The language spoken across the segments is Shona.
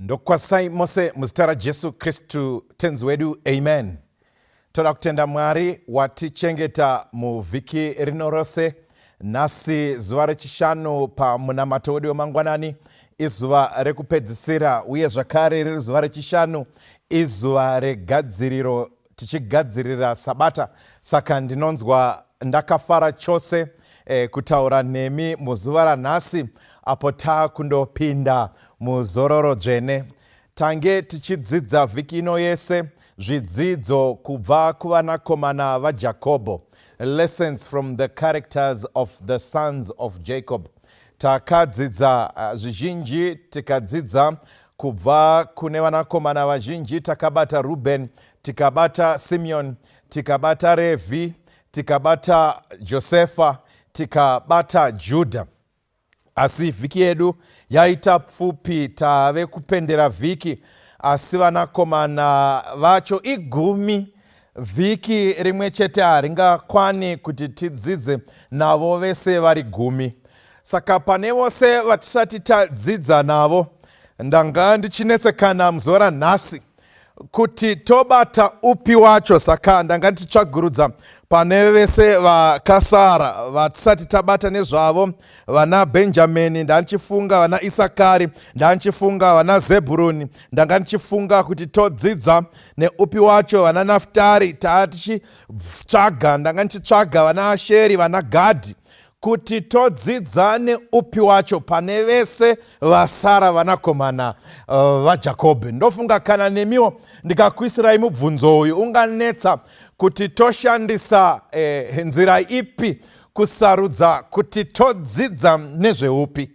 ndokwasai mose muzita rajesu kristu tenzi wedu amen toda kutenda mwari watichengeta muvhiki rino rose nhasi zuva rechishanu pamunamato wedu wemangwanani izuva rekupedzisira uye zvakare riri zuva rechishanu izuva regadziriro tichigadzirira sabata saka ndinonzwa ndakafara chose eh, kutaura nemi muzuva ranhasi apo taakundopinda muzororo dzvene tange tichidzidza vhiki ino yese zvidzidzo kubva kuvanakomana vajakobho lessons from the characters of the sons of jacob takadzidza eh, zvizhinji tikadzidza Kubva kune vanakomana vazhinji takabata Rubheni, tikabata Simeoni, tikabata Revhi, tikabata Josefa, tikabata Judha. Asi vhiki yedu yaita pfupi, tave kupendera vhiki, asi vanakomana vacho igumi Vhiki rimwe chete haringakwani kuti tidzidze navo vese vari gumi. Saka pane vose vatisati tadzidza navo, ndanga ndichinetsekana muzuva ranhasi kuti tobata upi wacho saka ndanga ndichitsvagurudza pane vese vakasara vatisati tabata nezvavo vana benjamini ndandichifunga vana isakari ndandichifunga vana zebhuruni ndanga ndichifunga kuti todzidza neupi wacho vana naftari taa tichitsvaga ndanga ndichitsvaga vana asheri vana gadhi kuti todzidza neupi wacho pane vese vasara vanakomana uh, vajakobhi ndofunga kana nemiwo ndikakuisirai mubvunzo uyu unganetsa kuti toshandisa eh, nzira ipi kusarudza kuti todzidza nezveupi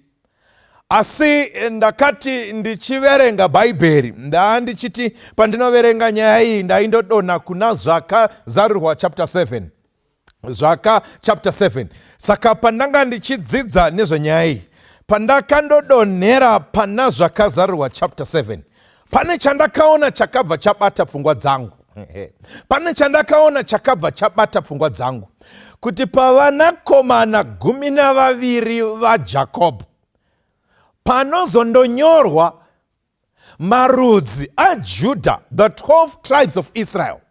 asi ndakati ndichiverenga bhaibheri ndaa ndichiti pandinoverenga nyaya iyi ndaindodonha kuna zvaka zarirwa chapter 7 zvaka chapter 7 saka pandanga ndichidzidza nezvenyaya iyi pandakandodonhera pana zvakazarirwa chapter 7 Pane chandakaona chakabva chabata pfungwa dzangu pane chandakaona chakabva chabata pfungwa dzangu kuti pavanakomana gumi navaviri vajakobho panozondonyorwa marudzi ajudha the 12 tribes of israel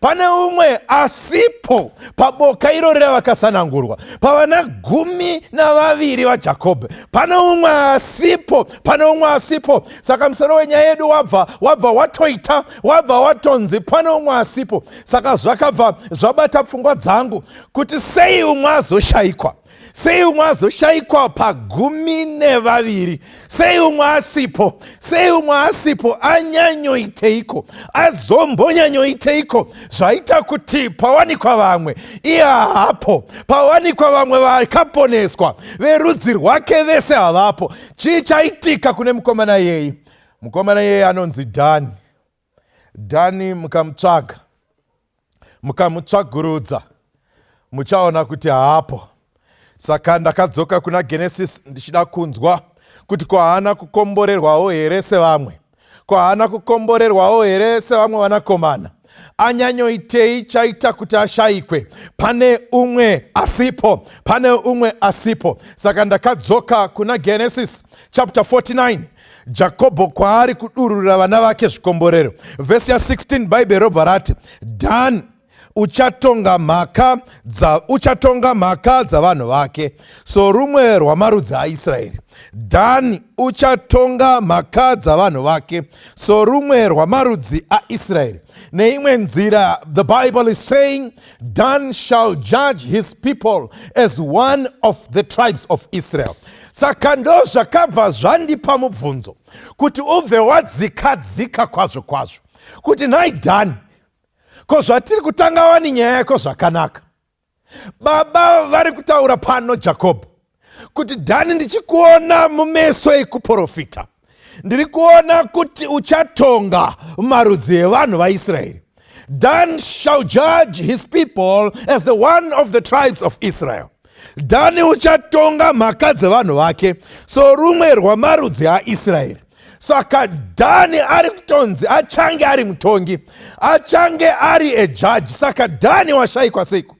pane umwe asipo paboka iro ravakasanangurwa pavana gumi navaviri vajakobho pane umwe asipo pane umwe asipo saka musoro wenyaya yedu wabva wabva watoita wabva watonzi pane umwe asipo saka zvakabva zvabata pfungwa dzangu kuti sei umwe azoshayikwa sei umwe azoshaikwa pagumi nevaviri sei umwe asipo sei umwe asipo anyanyoiteiko azombonyanyoiteiko zvaita kuti pawanikwa vamwe iye haapo pawanikwa vamwe vakaponeswa verudzi rwake vese havapo chii chaitika kune mukomana yeyi mukomana yeyi anonzi dhani dhani mukamutsvaga mukamutsvagurudza muchaona kuti haapo saka ndakadzoka kuna genesis ndichida kunzwa kuti ko haana kukomborerwawo here sevamwe ko haana kukomborerwawo here sevamwe vanakomana anyanyoitei chaita kuti ashayikwe pane umwe asipo pane umwe asipo saka ndakadzoka kuna genesis chapter 49 jakobho kwaari kudururira vana vake zvikomborero vhesi ya 16 bhaibheri robva rati dhani uchatonga mhaka dza uchatonga mhaka dzavanhu vake sorumwe rwamarudzi aisraeri dhani uchatonga mhaka dzavanhu vake sorumwe rwamarudzi aisraeri neimwe nzira the bible is saying dan shall judge his people as one of the tribes of israel saka ndo zvakabva zvandipa mubvunzo kuti ubve wadzika dzika kwazvo kwazvo kuti nhai dhani ko zvatiri kutanga wani nyaya yako zvakanaka baba vari kutaura pano jakobho kuti dhani ndichikuona mumeso ekuprofita ndiri kuona kuti uchatonga marudzi evanhu vaisraeri dan shall judge his people as the one of the tribes of israel dhani uchatonga mhaka dzevanhu vake sorumwe rwamarudzi aisraeri saka dhani ari kutonzi achange ari mutongi achange ari ejaji saka dhani washayikwa seiko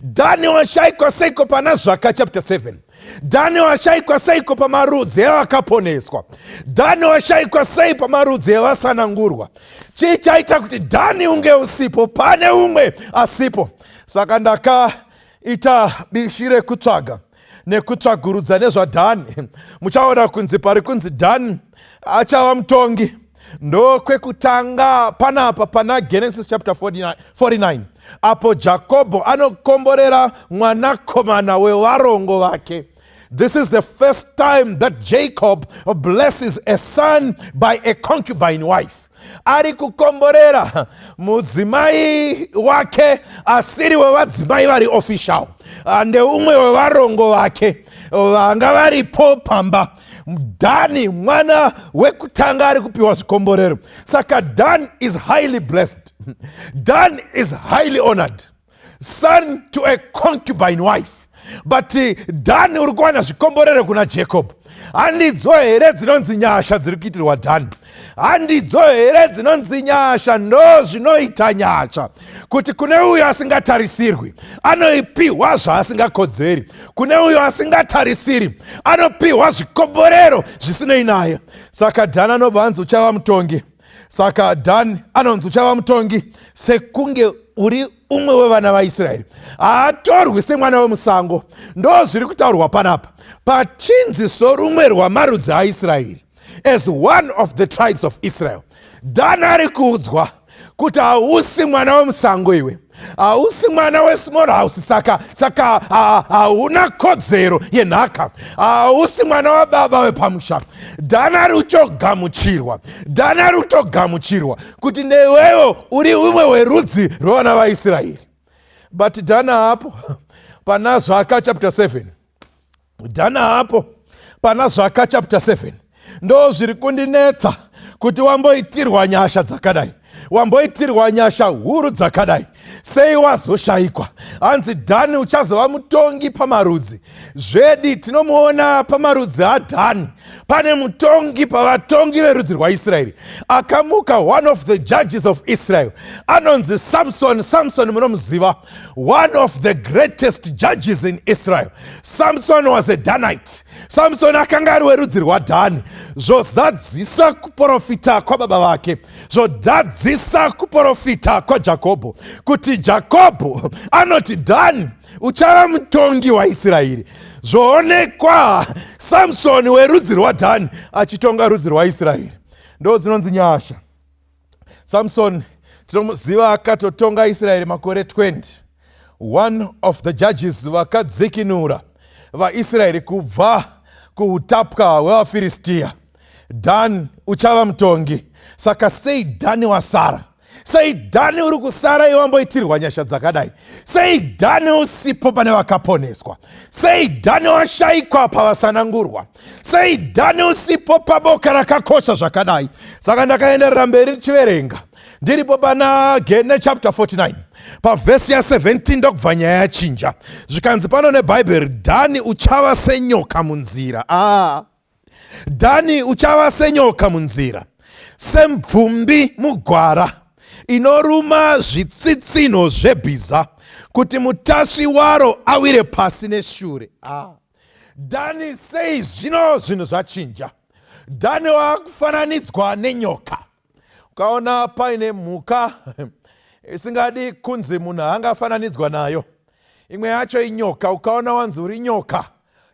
dhani washaikwa seiko pana zvaka chapter 7 dhani washaikwa seiko pamarudzi evakaponeswa dhani washaikwa sei pamarudzi evasanangurwa chii chaita kuti dhani unge usipo pane umwe asipo saka ndakaita bishi rekutsvaga nekutsvagurudza nezvadhani muchaona kunzi pari kunzi dhani achava mutongi ndokwekutanga panapa pana genesis chapter 49, 49 apo jakobho anokomborera mwanakomana wevarongo vake This is the first time that Jacob blesses a son by a concubine wife. ari kukomborera mudzimai wake asiri wevadzimai vari official ah, ndeumwe wevarongo vake vanga varipo pamba dhani mwana wekutanga ari kupiwa zvikomborero saka dan is highly blessed dan is highly honored son to a concubine wife but eh, dhani uri kuwana zvikomborero kuna jacob handidzo here dzinonzi nyasha dziri kuitirwa dhani handidzo here dzinonzi nyasha ndo zvinoita nyasha kuti kune uyo asingatarisirwi anoipiwa zvaasingakodzeri kune uyo asingatarisiri anopiwa zvikomborero zvisinei naye saka dhani anobva anzi uchava mutongi saka dhani anonzi uchava mutongi sekunge uri umwe wevana vaisraeri haatorwi semwana wemusango ndo zviri kutaurwa panapa pachinzi sorumwe rwamarudzi aisraeri as one of the tribes of israel dhani ari kuudzwa kuti hausi mwana wemusango iwe hausi mwana wesmall house saka saka hauna kodzero yenhaka hausi mwana wababa wepamusha dana rutogamuchirwa dana rutogamuchirwa kuti newewo uri umwe werudzi rwevana vaisraeri but dana apo pana zvaka chapter 7 dhana hapo pana zvaka chapter 7 ndo zviri kundinetsa kuti wamboitirwa nyasha dzakadai wamboitirwa nyasha huru dzakadai sei wazoshayikwa hanzi dhani uchazova mutongi pamarudzi zvedi tinomuona pamarudzi adhani pane mutongi pavatongi verudzi rwaisraeri akamuka one of the judges of israel anonzi samson samson munomuziva one of the greatest judges in israel samson was a danite samson akanga ari werudzi rwadhani zvozadzisa kuprofita kwababa vake zvodadzisa kuprofita kwajakobho kuti jakobho anoti dhani uchava mutongi waisraeri zvoonekwa samsoni werudzi rwadhani achitonga rudzi rwaisraeri ndo dzinonzi nyasha samsoni tinomuziva akatotonga israeri makore 20 one of the judges vakadzikinura vaisraeri kubva kuutapwa hwevafiristiya dhani uchava mutongi saka sei dhani wasara sei dhani uri kusara iwe wamboitirwa nyasha dzakadai sei dhani usipo pane vakaponeswa sei dhani washaikwa pavasanangurwa sei dhani usipo paboka rakakosha zvakadai saka ndakaenderera mberi ndichiverenga ndiripo pana gene chapter 49 pavhesi ya17 ndokubva nyaya yachinja zvikanzi pano nebhaibheri dhani uchava senyoka munzira ah. dhani uchava senyoka munzira semvumbi mugwara inoruma zvitsitsinho zvebhiza kuti mutasvi waro awire pasi neshure ah. Dhani, sei zvino zvinhu zvachinja? Dhani waakufananidzwa nenyoka. Ukaona paine mhuka isingadi kunzi munhu angafananidzwa nayo, imwe yacho inyoka. Ukaona wanzi uri nyoka,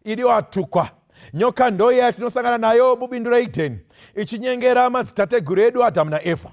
idi watukwa. Nyoka ndoiya yatinosangana nayo mubindu reEdheni ichinyengera madzitateguru edu Adhamu naEvha.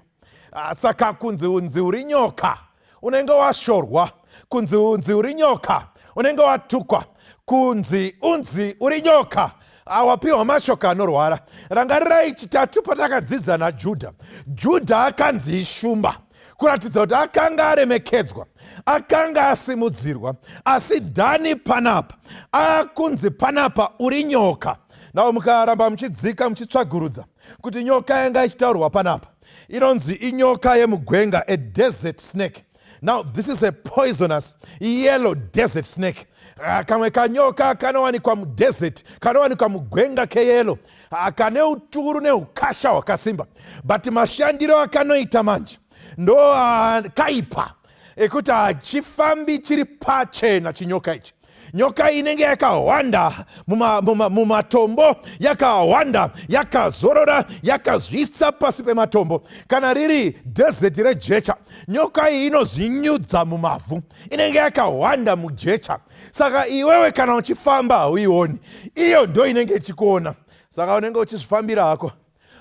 Ah, saka kunzi unzi uri nyoka unenge washorwa kunzi unzi uri nyoka unenge watukwa kunzi unzi uri nyoka awapiwa ah, mashoko anorwara rangarirai chitatu patakadzidza najudha judha akanzi ishumba kuratidza kuti akanga aremekedzwa akanga asimudzirwa asi dhani panapa akunzi panapa uri nyoka navo mukaramba muchidzika muchitsvagurudza kuti nyoka yanga ichitaurwa panapa inonzi inyoka yemugwenga a desert snake now this is a poisonous yellow desert snake ah, kamwe kanyoka kanowanikwa mudesert kanowanikwa mugwenga keyelo ah, kane uturu neukasha hwakasimba but mashandiro akanoita manje ndo ah, kaipa ekuti hachifambi chiri pachena chinyoka ichi nyoka inenge yakahwanda mumatombo muma, muma yakahwanda yakazorora yakazvisa pasi pematombo kana riri dhezeti rejecha nyoka iyi inozvinyudza mumavhu inenge yakahwanda mujecha saka iwewe kana uchifamba hauioni iyo ndo inenge ichikuona saka unenge uchizvifambira hako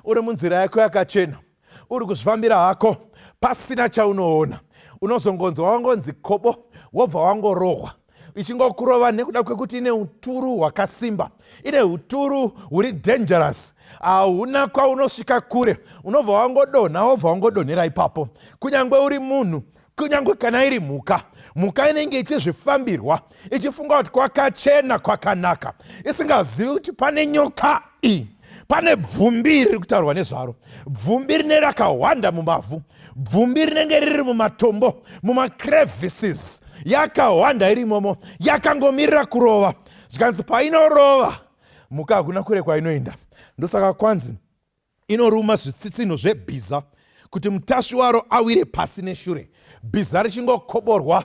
uri munzira yako yakachena uri kuzvifambira hako pasina chaunoona unozongonzwa wangonzi kobo wobva wangorohwa ichingokurova nekuda kwekuti ine uturu hwakasimba ine uturu huri dangerous hauna kwaunosvika kure unobva wangodonha wobva wangodonhera ipapo kunyange uri munhu kunyange kana iri mhuka mhuka inenge ichizvifambirwa ichifunga kuti kwakachena kwakanaka isingazivi kuti pane nyoka iyi pane bvumbi riri kutaurwa nezvaro bvumbi rine rakahwanda mumavhu bvumbi rinenge riri mumatombo mumacrevices yakahwanda iri imomo yakangomirira kurova zvikanzi painorova mhuka hakuna kure kwainoenda ndosaka kwanzi Inoruma zvitsitsinho zvebhiza kuti mutasvi waro awire pasi neshure, bhiza richingokoborwa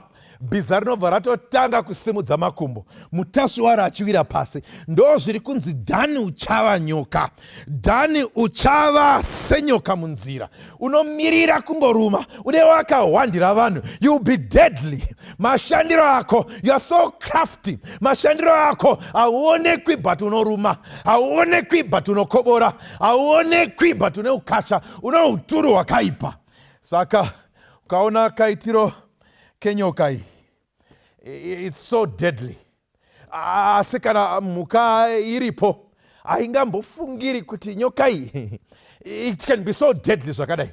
bhiza rinobva ratotanga kusimudza makumbo mutasvi waro achiwira pasi ndo zviri kunzi dhani uchava nyoka dhani uchava senyoka munzira unomirira kungoruma une wakahwandira vanhu you be deadly mashandiro ako youare so crafty mashandiro ako hauonekwi but unoruma hauonekwi but unokobora hauonekwi but une ukasha une uturu hwakaipa saka ukaona kaitiro kenyoka iyi its so deadly asi kana mhuka iripo haingambofungiri kuti nyoka iyi it can be so deadly zvakadai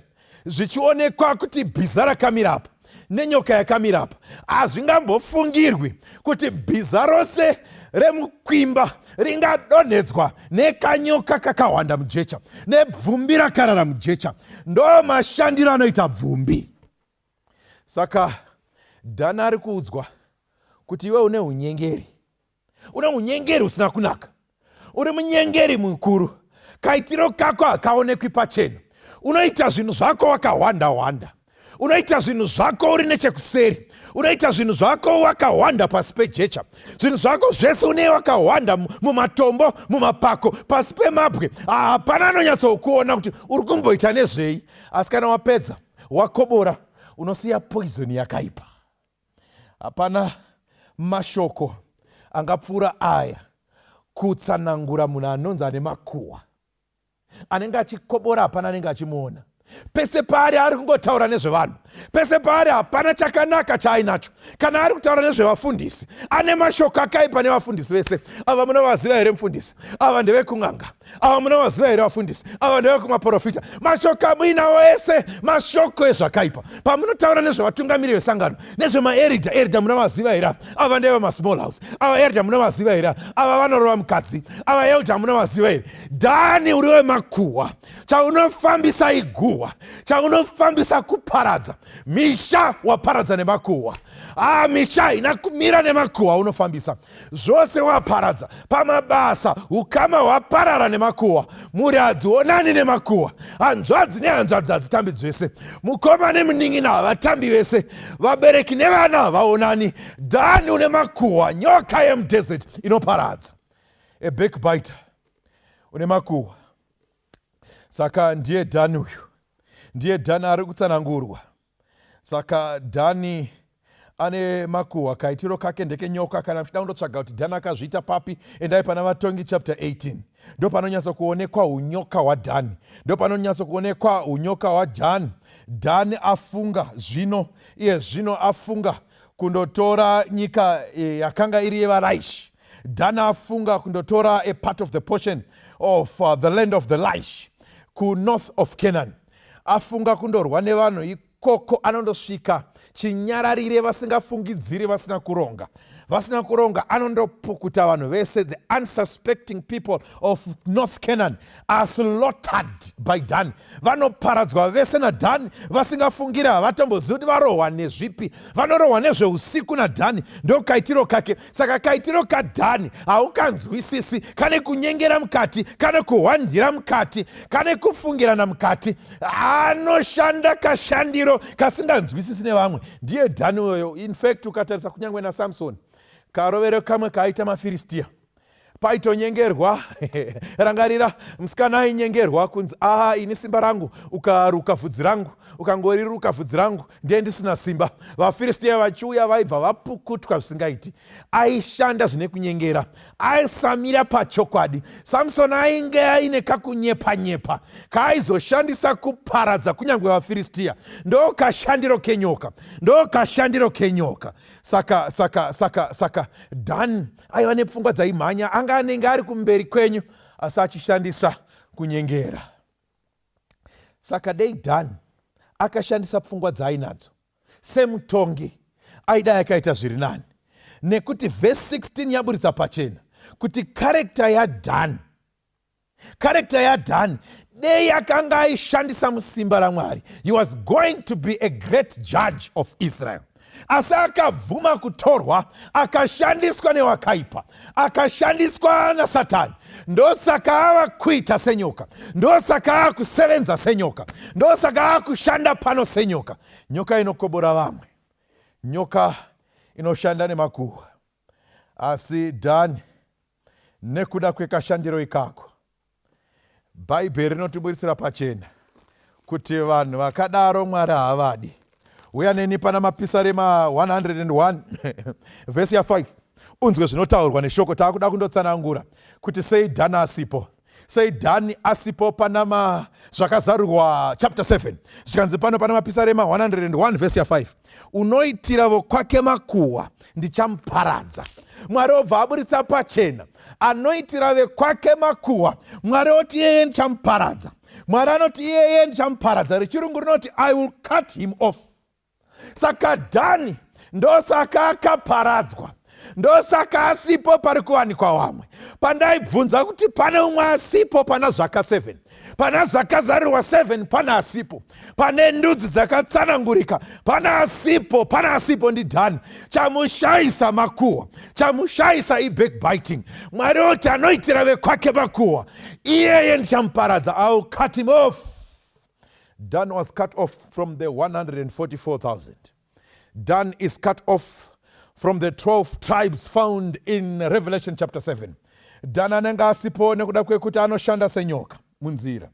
zvichionekwa kuti bhiza rakamira apa nenyoka yakamira apa hazvingambofungirwi kuti bhiza rose remukwimba ringadonhedzwa nekanyoka kakahwanda mujecha nebvumbi rakarara mujecha ndo mashandiro anoita bvumbi saka dhana ari kuudzwa kuti iwe une unyengeri uri munyengeri usina kunaka uri munyengeri mukuru kaitiro kako hakaonekwi pachena unoita zvinhu zvako wakahwanda hwanda unoita zvinhu zvako uri nechekuseri unoita zvinhu zvako wakahwanda pasi pejecha zvinhu zvako zvese une wakahwanda mumatombo mumapako pasi pemabwe hapana anonyatsokuona kuti uri kumboita nezvei asi kana wapedza wakobora unosiya poizoni yakaipa Hapana mashoko angapfuura aya kutsanangura munhu anonzi ane makuhwa anenge achikobora hapana anenge achimuona pese paari ari kungotaura nezvevanhu pese paari hapana chakanaka chaainacho kana ari kutaura nezvevafundisi ane mashoko akaipa nevafundisi vese ava munovaziva here mufundisi ava ndevekun'anga ava munovaziva here vafundisi ava ndeve kumaporofita mashoko amuinawo ese mashoko ezvakaipa pamunotaura nezvevatungamiri vesangano nezvemaerida erida munovaziva here ava ndeve masmall house ava erida munovaziva here ava vanorova mukadzi ava elda munovaziva here dhani uri wemakuhwa chaunofambisa iguhwa chaunofambisa kuparadza misha waparadza nemakuhwa haa ah, misha ina kumira nemakuhwa unofambisa zvose waparadza pamabasa ukama hwaparara nemakuhwa mhuri hadzionani nemakuhwa hanzvadzi nehanzvadzi hadzitambi dzvese mukoma nemunin'ina havatambi vese vabereki nevana havaonani dhani une makuhwa nyoka yemudesert inoparadza a backbiter une makuhwa saka ndiye dhani uyu ndiye dhani ari kutsanangurwa saka dhani ane makuhwa kaitiro kake ndekenyoka kana muchida kundotsvaga kuti dhani akazviita papi endai pana vatongi chapter 18 ndo panonyatso kuonekwa unyoka hwadhani ndo panonyatso kuonekwa unyoka hwadhani dhani afunga zvino iye zvino afunga kundotora nyika e, yakanga iri yevaraishi dhani afunga kundotora a part of the portion of uh, the land of the lish kunorth of canaan afunga kundorwa nevanhu ikoko anondosvika chinyararire vasingafungidziri vasina kuronga vasina kuronga anondopukuta vanhu vese the unsuspecting people of north canaan are slaughtered by dani vanoparadzwa vese nadhani vasingafungiri havatombozivi kuti varohwa nezvipi vanorohwa nezveusiku nadhani ndokaitiro kake saka kaitiro kadhani haukanzwisisi kane kunyengera mukati kane kuhwandira mukati kane kufungirana mukati anoshanda kashandiro kasinganzwisisi nevamwe ndiye dhani uyoyo infact ukatarisa kunyange nasamsoni karovero kamwe kaaita mafiristiya paitonyengerwa rangarira musikana ainyengerwa kunzi aa ah, ini simba rangu ukaruka vhudzi rangu ukangoriruka vhudzi rangu ndiye ndisina simba vafiristiya vachiuya vaibva vapukutwa zvisingaiti aishanda zvine kunyengera aisamira pachokwadi samsoni ainge aine kakunyepa nyepa kaaizoshandisa kuparadza kunyange vafiristiya ndo kashandiro kenyoka ndo kashandiro kenyoka saka saka saka saka dani aiva nepfungwa dzaimhanya anga anenge ari kumberi kwenyu asi achishandisa kunyengera saka dei dani akashandisa pfungwa dzaainadzo semutongi aida yakaita zviri nani nekuti vhesi 16 yaburitsa pachena kuti karekta yadani karekta yadhani dei akanga aishandisa musimba ramwari he was going to be a great judge of israel asi akabvuma kutorwa akashandiswa newakaipa akashandiswa nasatani ndosaka ava kuita senyoka ndosaka ava kusevenza senyoka ndosaka ava kushanda pano senyoka nyoka inokobora vamwe nyoka inoshanda nemakuhwa Asi Dhani, nekuda kwekashandiro ikako, Bhaibheri rinotiburitsira pachena kuti vanhu vakadaro Mwari haavadi. Uya neni pana Mapisarema 101 vhesi ya 5 unzwe zvinotaurwa neshoko. Taakuda kundotsanangura kuti sei Dhani asipo. sei dhani asipo panama zvakazarurwa chapter 7 zvikanzi pano pana mapisarema 101 vhesi ya 5 unoitira vokwake makuhwa ndichamuparadza mwari obva aburitsa pachena anoitira vekwake makuhwa mwari oti iyeye ndichamuparadza mwari anoti iyeye ndichamuparadza rechirungu rinoti i will cut him off saka dhani ndosaka akaparadzwa ndosaka asipo pari kuwanikwa wamwe pandaibvunza kuti pane umwe asipo pana zvaka 7 pana zvakazarirwa 7 pana asipo pane ndudzi dzakatsanangurika pana asipo pana asipo ndi dhani chamushaisa makuhwa chamushaisa ibackbiting mwari oti anoitira vekwake makuhwa iyeye ndichamuparadza au cut him off Dan was cut off from the 144,000. Dan is cut off from the 12 tribes found in Revelation chapter 7. Dan anenge asipo nekuda kwekuti anoshanda senyoka munzira,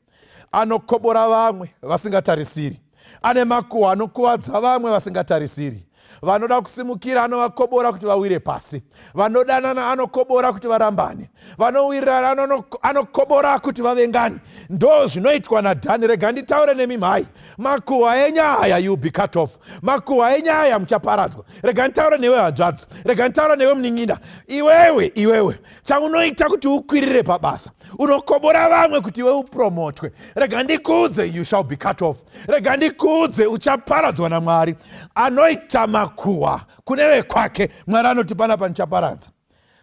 anokobora vamwe vasingatarisiri, ane makuhwa anokuvadza vamwe vasingatarisiri. vanoda kusimukira anovakobora kuti vawire pasi vanodanana anokobora kuti varambane vanowirirana anokobora kuti vavengane ndo zvinoitwa nadhani rega nditaure nemi mhai makuhwa enyaya you be cut off makuhwa enyaya muchaparadzwa rega nditaure newe hanzvadzi rega nditaure newe munin'ina iwewe iwewe chaunoita kuti ukwirire pabasa unokobora vamwe kuti iwe upromotwe rega ndikuudze you shall be cut off rega ndikuudze uchaparadzwa namwari anoita makuhwa kune vekwake mwari anoti pana panichaparadza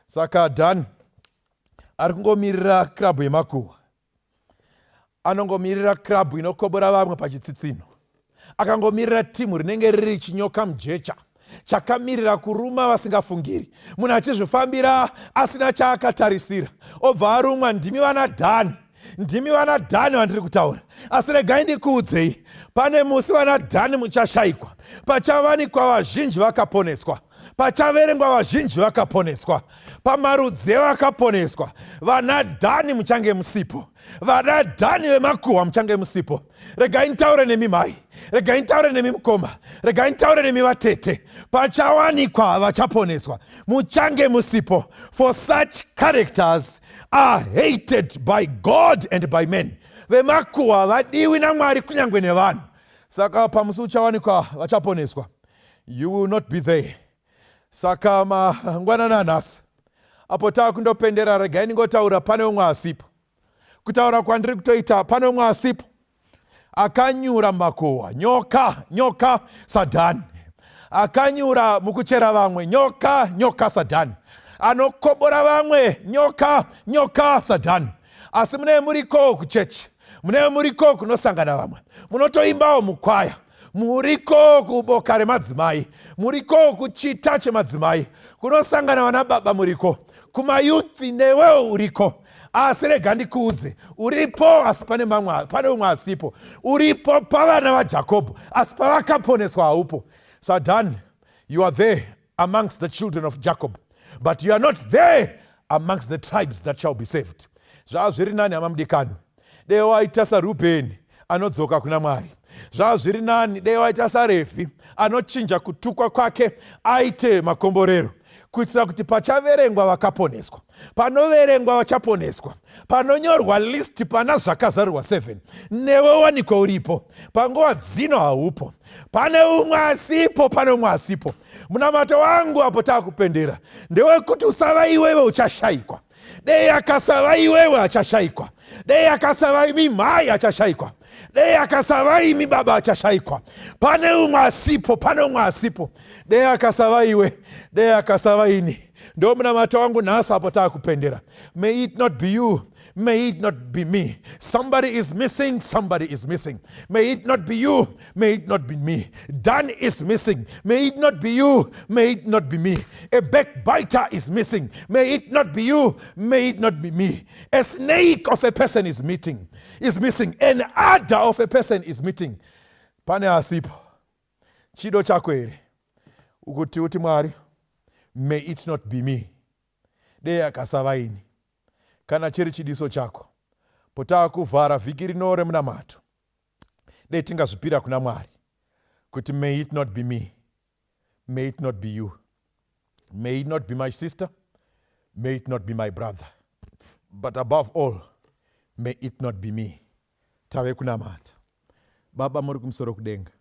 saka dan ari kungomirira kirabhu yemakuhwa anongomirira kirabhu inokobora vamwe pachitsitsinho akangomirira timu rinenge riri chinyoka mujecha chakamirira kuruma vasingafungiri munhu achizvifambira asina chaakatarisira obva arumwa ndimi vana dhani ndimi vana dhani vandiri kutaura asi regai ndikuudzei pane musi vana dhani muchashaikwa pachavanikwa vazhinji vakaponeswa pachaverengwa vazhinji vakaponeswa pamarudzi evakaponeswa vana dhani muchange musipo vana dhani vemakuhwa muchange musipo regai nitaure nemi mhai regai nitaure nemi mukoma regai nitaure nemi vatete pachawanikwa vachaponeswa muchange musipo for such characters are hated by god and by men vemakuhwa vadiwi namwari kunyange nevanhu saka pamusi uchawanikwa vachaponeswa you will not be there saka mangwanana nhasi apo tava kundopendera regai ndingotaura pane umwe asipo kutaura kwandiri kutoita pane umwe asipo akanyura makowa nyoka nyoka sadhani akanyura mukuchera vamwe nyoka nyoka sadhani anokobora vamwe nyoka nyoka sadhani asi mune muriko kuchechi mune muriko kunosangana vamwe munotoimbawo mukwaya muriko kuboka remadzimai muriko kuchita chemadzimai kunosangana vana baba muriko kumayuthi newewo uriko asi rega ndikuudze uripo asi pane mamwe pane umwe asipo uripo pavana vajakobho asi pavakaponeswa haupo sadan you are there amongst the children of jacob but you are not there amongst the tribes that shall be saved zvava zviri nani hama mudikani dei waita sarubheni anodzoka kuna mwari zvava zviri nani dei waita sarefi anochinja kutukwa kwake aite makomborero kuitira kuti pachaverengwa vakaponeswa panoverengwa vachaponeswa panonyorwa list pana zvakazarurwa 7 newe wanikwa uripo panguva dzino haupo pane umwe asipo pane umwe asipo munamato wangu apo taakupendera ndewekuti usava iwewe uchashaikwa dei akasava iwewe achashaikwa dei akasava imi mhai achashaikwa dei akasava imi baba achashaikwa pane umwe asipo pane umwe asipo dei akasava iwe dei akasava ini ndo munamata wangu nhasi apo taakupendera may it not be you may it not be me somebody is missing somebody is missing may it not be you may it not be me dan is missing may it not be you may it not be me a backbiter is missing may it not be you may it not be me a snake of a person is meeting is missing an adder of a person is meeting pane asipo chido chako here ukuti uti mwari may it not be me dei akasava ini kana chiri chidiso chako potaa kuvhara vhiki rino remunamato dei tingazvipira kuna mwari kuti may it not be me may it not be you may it not be my sister may it not be my brother but above all may it not be me tave kunamata baba muri kumusoro kudenga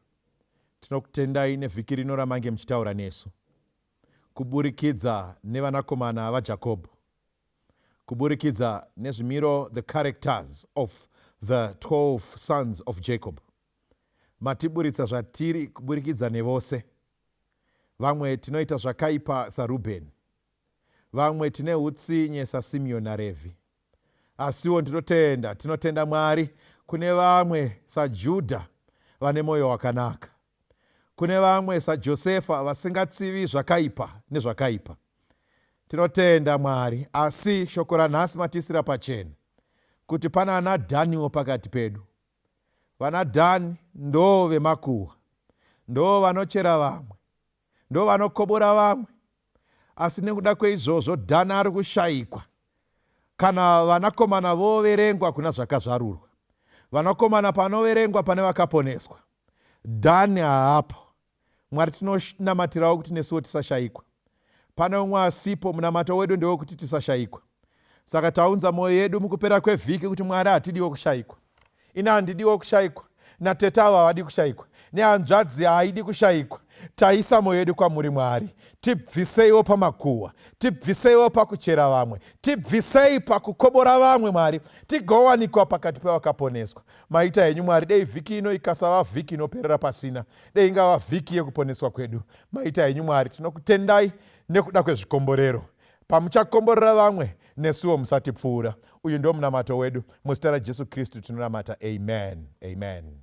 tinokutendai nevhiki rino ramange muchitaura nesu kuburikidza nevanakomana vajakobho kuburikidza nezvimiro the characters of the 12 sons of jacob Matiburitsa zvatiri kuburikidza nevose. Vamwe tinoita zvakaipa saRubheni. Vamwe tine hutsinye saSimiyoni naRevhi. Asiwo ndinotenda, tinotenda Mwari kune vamwe saJudha vane mwoyo wakanaka. Kune vamwe saJosefa vasingatsivi zvakaipa nezvakaipa. Tinotenda Mwari, asi shoko ranhasi matiisira pachena kuti pana anaDhaniwo pakati pedu. vanadhani ndoo vemakuhwa ndoo vanochera vamwe ndoo vanokobora vamwe asi nekuda kweizvozvo dhani ari kushaikwa kana vanakomana voverengwa kuna zvakazvarurwa vanakomana panoverengwa pane vakaponeswa dhani haapo Mwari tinonamatirawo kuti nesuwo tisashayikwa. Pane umwe asipo, munamato wedu ndewekuti tisashayikwa. Saka taunza mwoyo yedu mukupera kwevhiki kuti Mwari hatidiwo kushayikwa. Ini handidiwo kushayikwa, natete avo havadi kushayikwa, nehanzvadzi haidi kushayikwa. Taisa mwoyo yedu kwamuri Mwari, tibviseiwo pamakuhwa, tibviseiwo pakuchera vamwe, tibvisei pakukobora vamwe Mwari, tigowanikwa pakati pevakaponeswa. Maita henyu Mwari, dei vhiki ino ikasava vhiki inoperera pasina dei ngava vhiki yekuponeswa kwedu maita henyu mwari tinokutendai nekuda kwezvikomborero pamuchakomborera vamwe nesuwo musatipfuura uyu ndo munamato wedu muzita rajesu kristu tinonamata amen amen